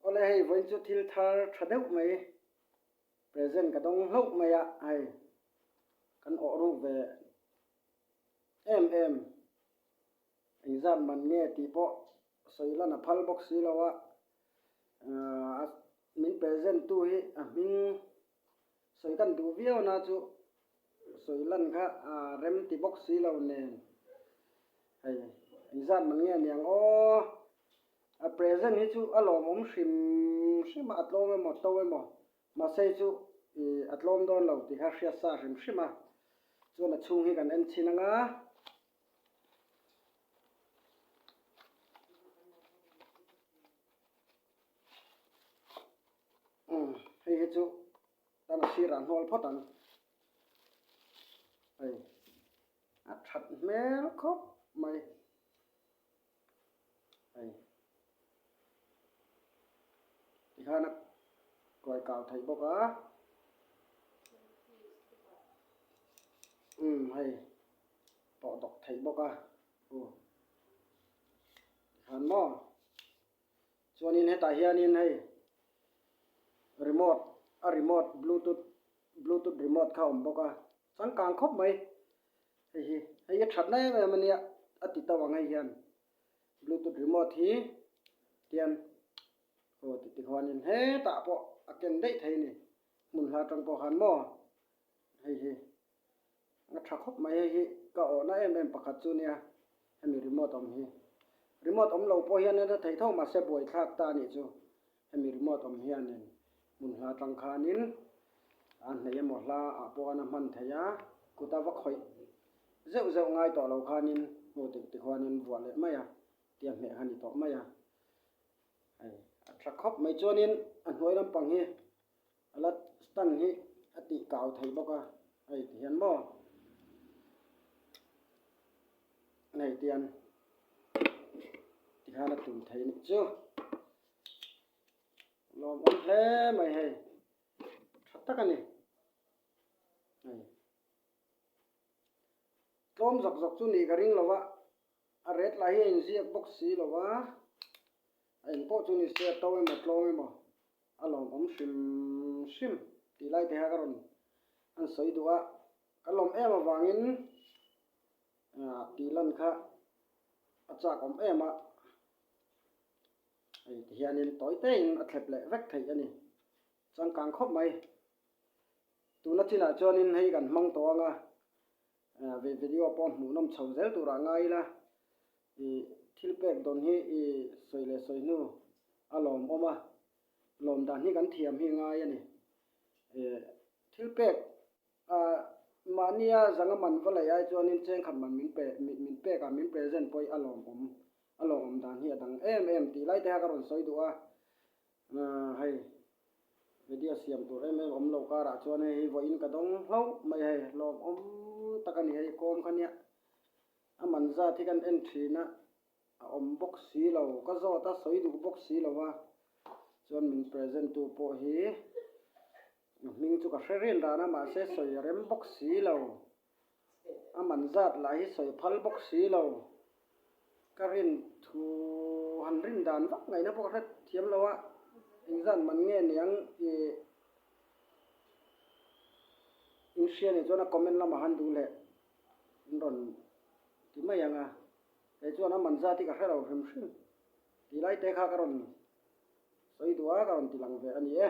Awle hei vawiin chu thil thar tha deuh mai present ka dawng hlauh mai a hei kan awh ruk ve em em. Engzat man nge tih pawh sawi lan a phal bawk si lo a, ahh min present tu hi a hming Sawi kan duh viau na chu sawi lan kha aa rem ti bawk si lo nen hei engzat man nge a niang aw a present hi chu a lawmawm hrim hrim a a tlawm emaw to emaw mahse chu ih a tlawm dawn lo tih kha hriat sa hrim hrim a chuan a chhung hi kan en chhin ang a umm hei hi chu tan a sirah hnawl phawt ang hei a that hmel khawp mai hei tikhan a kuai kau thei bawk a umm hei pawh dawk thei bawk a aw tihan maw. chuanin hetah hianin hei remote a remote bluetooth bluetooth remote kha a awm bawk a changkang khawp mai hei hi hei hi thatna em em a nia a ti tauh ang hei hian bluetooth remote hi tihian aw titi khanin hetah pawh a ken daih thei a ni hmun hla tawng pawh han maw hei hi. A tha khawp mai hei hi ka awhna em em pakhat chu nia hemi remote awm hi. Remote awm lo pawh hian a hla thei tho mahse buai thlak ta a nih chu. Hemi remote awm hianin hmun hla tangkhanin a hneih emaw hla ah pawh an a hman thei a, kut a va khawih zeuh zeuh ngai tawh lo khanin hmuh tih tih khuanin vuah leh mai a tia hmeh ha ni tawh mai a. Hei a tha khawp mai chuanin a hnuai lampang hi. A la Stan hi a tih kau thei bawk a, Hei ti hian maw? Nei tian ti khan a tum thei nih chu. Lawm awm hle mai hei, tha tak a ni. Hei. Tlawm zawk zawk chu nih ka ring lo a, A ret lah hi a inziak bawk si lo va, a en pawh chu ni se a to emaw tlawng emaw a lawmawm hrim hrim tih lai te hian ka rawn han sawi duh a, ka lawm em avangin ah tih lan kha a chakawm em a, hei tihianin tawi teiin a thlep leh vek theih a ni, changkang khawp mai, tuna chinah chuanin hei kan hmang tawh ang a. Ve video pawh hmuhnawm chho zel turah ngai ila i thil pek dawn hi i sawi leh sawi hnu a lawm awm a, lawm dan hi kan thiam hi ngai a ni. Thil pek a mahnia zanga man va laih ai chuan in chengkhat man min pe min pek a, min present pawh hi a lawm awm, a lawm awm dan hi a dang em em tih lai te kha ka rawn sawi duh a. Nga hei media siam tur em em awm lo karah chuan hei hi vawiin ka dawng hlauh mai hei hlawmawm tak a ni hei kawm kha nia a man zat hi kan en thin a a awm bawk si lo ka zawt a sawi duh bawk si lo a chuan min present tu pawh hi. A hming chu ka hre ril dan a mahse sawi a rem bawk si lo, a man zat lah hi sawi phal bawk si lo. Ka rin thu han rin dan vak ngaihna pawh ka hre thiam lo a, engzat man nge niang ih in hria nih chuan a comment lamah han duh leh in rawn ti mai ang a, kei chuan a man zat hi ka hre lo hrim hrim, ti lai te kha ka rawn. sawi duai a rawn ti lang ve a ni e.